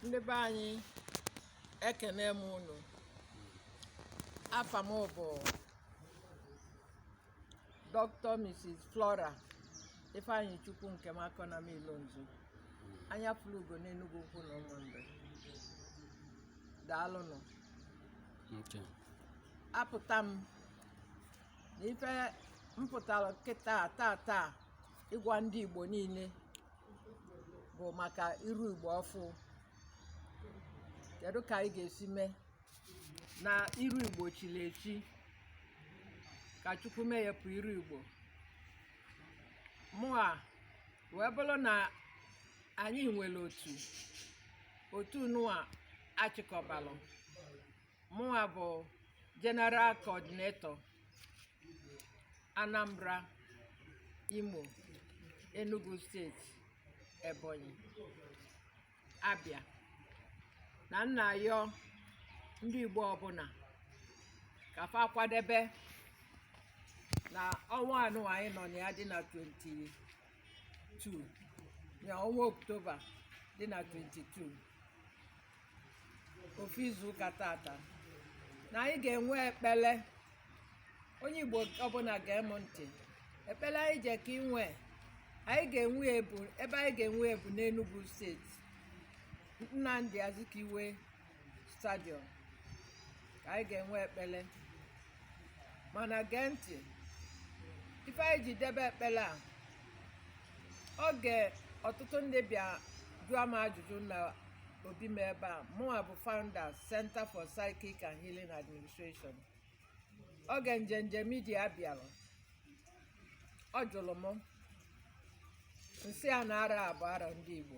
ndị be anyị ekenee m unu afa m bụ Dr. Mrs. Flora Ifeanyichukwu Nkemakonam Ilonzo anya fụrụ ugo n'Enugwu Ukwu na Ụmụnri daalụnụ apụta m na ife m pụtara kịta taa taa ịgwa ndị Igbo niile bụ maka iru igbo ọfụ kedu ka anyị ga-esi mee na iru igbo chiri echi ka chukwu meyepụ iru igbo ma wee bụrụ na anyị nwere otu otu nụwa a chịkọbalụ mụnwa bụ general coordinator anambra imo enugu state ebonyi abia na m na-ayọ ndị igbo ọbụna ka fa kwadebe na ọnwa a nụwa anyị nọ na ya dị na 22 na ọnwa oktoba dị na 22 ofu izu ụka tata na anyị ga-enwe ekpele onye igbo ọbụna gee m ntị ekpele anyị jekọ inwe ebe anyị ga-enwe ya bụ n'Enugu steeti Nnamdi Azikiwe stadium ka anyị ga-enwe ekpele mana gee ntị ife anyị ji debe ekpele a oge ọtụtụ ndị bịa jụọ m ajụjụ na obi m ebe a mụnwa bụ founder Center for Psychic and Healing Administration oge Njenje Media bịara ọ jụlụ mụ m sị ya na arọ a bụ arọ ndị Igbo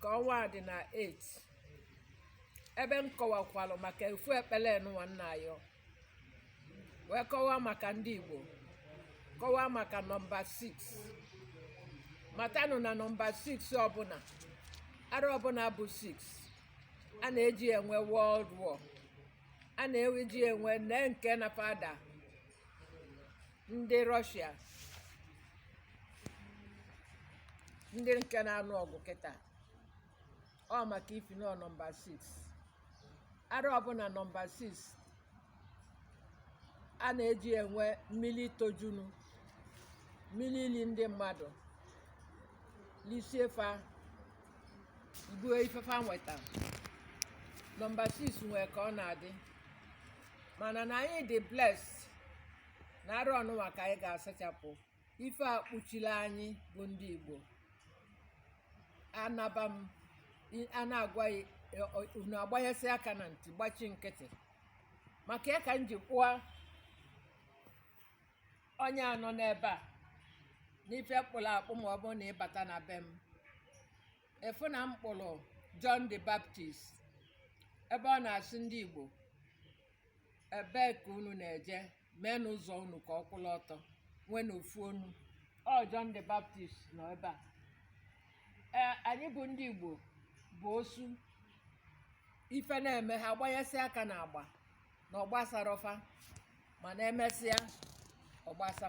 ka ọnwa a dị na 8 ebe m kọwakwalụ maka ofu ekpele nụwa m na-ayọ wee kọwaa maka ndị Igbo kọwaa maka nọmba 6 matanụ na nọmba 6 ọbụna arọ ọbụna bụ 6 a na-eji enwe World War a na-eji enwe nne nke na fada ndị Russia ndị nke na-anụ ọgụ kịta ọ maka ifi nọmba 6 arọ ọbụna nọmba 6 a na-eji enwe mmili tojunu mmili elie ndị mmadụ lisie fa buo ife fa nweta nọmba 6 nwee ka ọ na-adị mana na anyị dị blessed na arụ ọnụnwa ka anyị ga-asachapụ ife a kpuchiri anyị bụ ndị Igbo anaba m a na-agwa unu agbanyesị aka na ntị gbachi nkịtị maka ya ka m ji kpụọ onye a nọ n'ebe a n'ife kpụrụ akpụ ma ọ bụrụ na ị bata na be m ị fụ na m kpụrụ John the Baptist ebe ọ na-asị ndị Igbo ebee ka unu na-eje meenụ ụzọ unu ka ọ kwụrụ ọtọ nweenụ ofu ọnụ ọ John the Baptist nọ ebe a ee anyị bụ ndị Igbo bụ osu ife na-eme ha gbanyesị aka n'agba na ọ gbasarọ fa mana emesịa ọ gbasa